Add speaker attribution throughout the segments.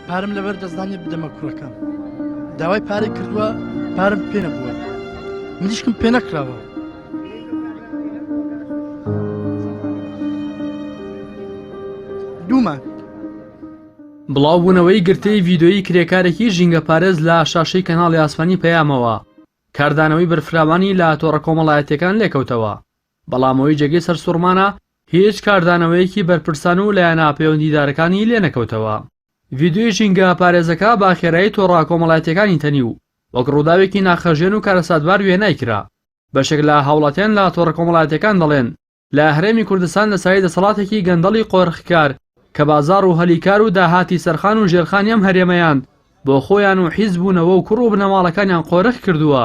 Speaker 1: پارم لەبەر دەستدانێ بدەمە کوڕەکەم داوای پارێک کردووە پارم پێ نەبووە منیشکم پێ نەکراوە دوومان بڵاوبوونەوەی
Speaker 2: گرتەی ڤیدۆیی کرێکارێکی ژینگە پارێز لە شاشەی کەناڵی ئاسمانی پەیامەوە کاردانەوەی بەرفراوانی لە تۆڕە کۆمەڵایەتەکان لێکەوتەوە بەڵام ئەوەی جێگەی سەرسوڕمانە هیچ کاردانەوەیەکی بەرپرسان و لایەنە پەیوەندیدارەکانی لێ نەکەوتەوە. ڤیدیۆی ژینگە پارێزەکە بە خێرایی تۆڕە کۆمەڵایەتییەکانی تەنی و وەک ڕووداوێکی ناخهەژێن و کارەساتبار وێنای کرا. بەشێک لە هاوڵاتیان لە تۆڕە کۆمەڵایەتییەکان دەڵێن، لە هەرێمی کوردستان لە سایەی دەسەڵاتێکی گەندەڵی قۆرخکار کە بازاڕ و هەلی کار و داهاتی سەرخان و ژێرخانی ئەم هەرێمەیان بۆ خۆیان و حیزب و نەوە و کوڕ و بنەماڵەکانیان قۆرخ کردووە،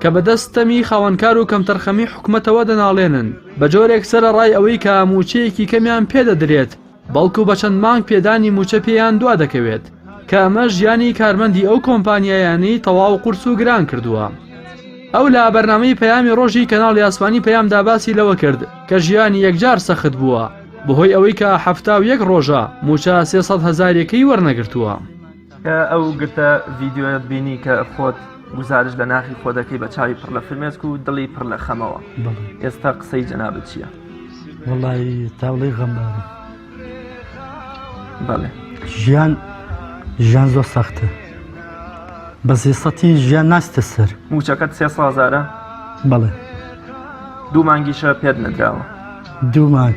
Speaker 2: کە بەدەست ستەمی خاوەنکار و کەمتەرخەمی حکومەتەوە دەناڵێنن، بە جۆرێک سەرەڕای ئەوەی کە مووچەیەکی کەمیان پێ دەدرێت، بەڵکو بە چەند مانگ پێدانی مووچە پێیان دوا دەکەوێت، کە ئەمەش ژیانی کارمەندی ئەو کۆمپانیایانەی تەواو قورس و گران کردووە. ئەو لە بەرنامەی پەیامی ڕۆژی کەناڵی ئاسمانی پەیامدا باسی لەوە کرد، کە ژیانی یەکجار سەخت بووە، بەهۆی ئەوەی کە حەفتا و یەک ڕۆژە مووچە سێ سەد هەزاریەکەی وەرنەگرتووە. کە ئەو
Speaker 3: گرتە ڤیدیۆیەت بینی کە خۆت گوزارش لە ناخی خۆ دەکەی بە چاوی پڕ لە فرمێسک و دڵی پڕ لە خەمەوە ئێستا قسەی جەنابەت چییە؟ وڵی
Speaker 1: تاڵی غەمبارە
Speaker 3: بەڵێ ژیان
Speaker 1: ژیان زۆر سەختە بە زیسەتی ژیان ناستە سەر موچەکەت سێ سازارە
Speaker 3: بەڵێ دوو مانگیشە پێت نەدراوە دوو
Speaker 1: مانگ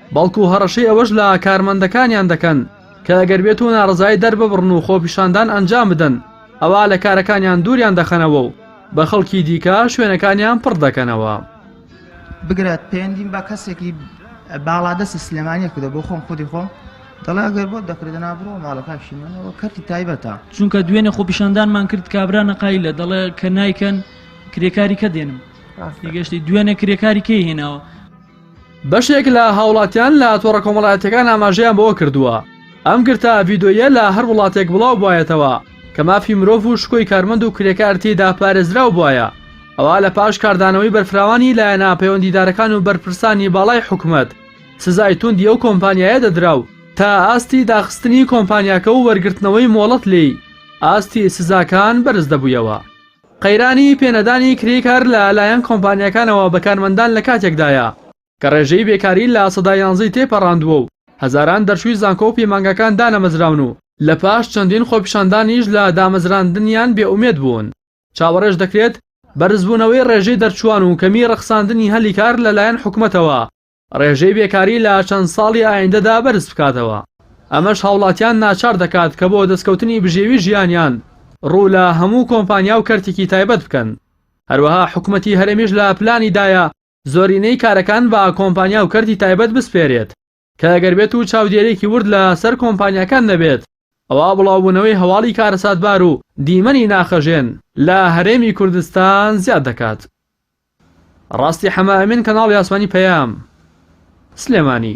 Speaker 2: بەڵکو هەڕەشەی ئەوەش لە کارمەندەکانیان دەکەن کە ئەگەر بێتو ناڕەزایی دەرببڕن و خۆپیشاندان ئەنجام بدەن ئەوا لە کارەکانیان دوریان دەخەنەوە و بە خەڵکی دیکە شوێنەکانیان پڕ دەکەنەوە. بگرە
Speaker 4: پەیوەندیم بە کەسێکی باڵادەستی سلێمانییەک کردووە، بۆ خۆم خودی خۆم دەڵێ ئەگەر بۆت دەکرێت دەنا بڕۆ ماڵە کاکی من، ئەوە کەرتی تایبەتە. چونکە دوێنێ
Speaker 5: خۆپیشاندانمان کرد کابرا نەقایلە دەڵێ کە نایکەن کرێکاری کە دێنم تێگەشتی دوێنێ کرێکاری کەی هێناوە. بەشێک
Speaker 2: لە هاوڵاتیان لە تۆڕە کۆمەڵایەتیەکان ئاماژەیان بەوە کردووە، ئەم گرتە ڤیدۆییە لە هەر وڵاتێک بڵاو بوایەتەوە کە مافی مرۆڤ و شکۆی کارمەند و کرێکار تێیدا پارێزراو بوایە، ئەوا لە پاش کاردانەوەی بەرفراوانی لایەنە پەیوەندیدارەکان و بەرپرسانی باڵای حکومەت، سزای توندی ئەو کۆمپانیایە دەدرا و تا ئاستی داخستنی کۆمپانیاکە و وەرگرتنەوەی مۆڵەت لێی، ئاستی سزاکان بەرز دەبوویەوە. قەیرانی پێ نەدانی کرێی کار لە لایەن کۆمپانیاکانەوە بە کارمەندان لە کاتێکدایە کە ڕێژەی بێکاری لە سەدا یانزە ی تێپەڕاندووە و هەزاران دەرچووی زانکۆ و پەیمانگاکان دانەمەزراون و لە پاش چەندین خۆپیشاندانیش لە دامەزراندنیان بێ ئومێد بوون. چاوەڕێش دەکرێت بەرزبوونەوەی ڕێژەی دەرچووان و کەمی ڕەخساندنی هەلی کار لە لایەن حکومەتەوە ڕێژەی بێکاری لە چەند ساڵی ئایندەدا بەرز بکاتەوە، ئەمەش هاوڵاتیان ناچار دەکات کە بۆ دەستکەوتنی بژێوی ژیانیان ڕوو لە هەموو کۆمپانیا و کەرتێکی تایبەت بکەن، هەروەها حکومەتی هەرێمیش لە پلانی دایە زۆرینەی کارەکان بە کۆمپانیا و کەرتی تایبەت بسپێرێت کە گەر بێت و چاودێرێکی ورد لە سەر کۆمپانیاکان نەبێت، ئەوا بڵاوبوونەوەی هەواڵی کارەساتبار و دیمەنی ناخهەژێن لە هەرێمی کوردستان زیاد دەکات. ڕاستی حەمە ئەمین کەناڵی ئاسمانی پەیام. سلێمانی.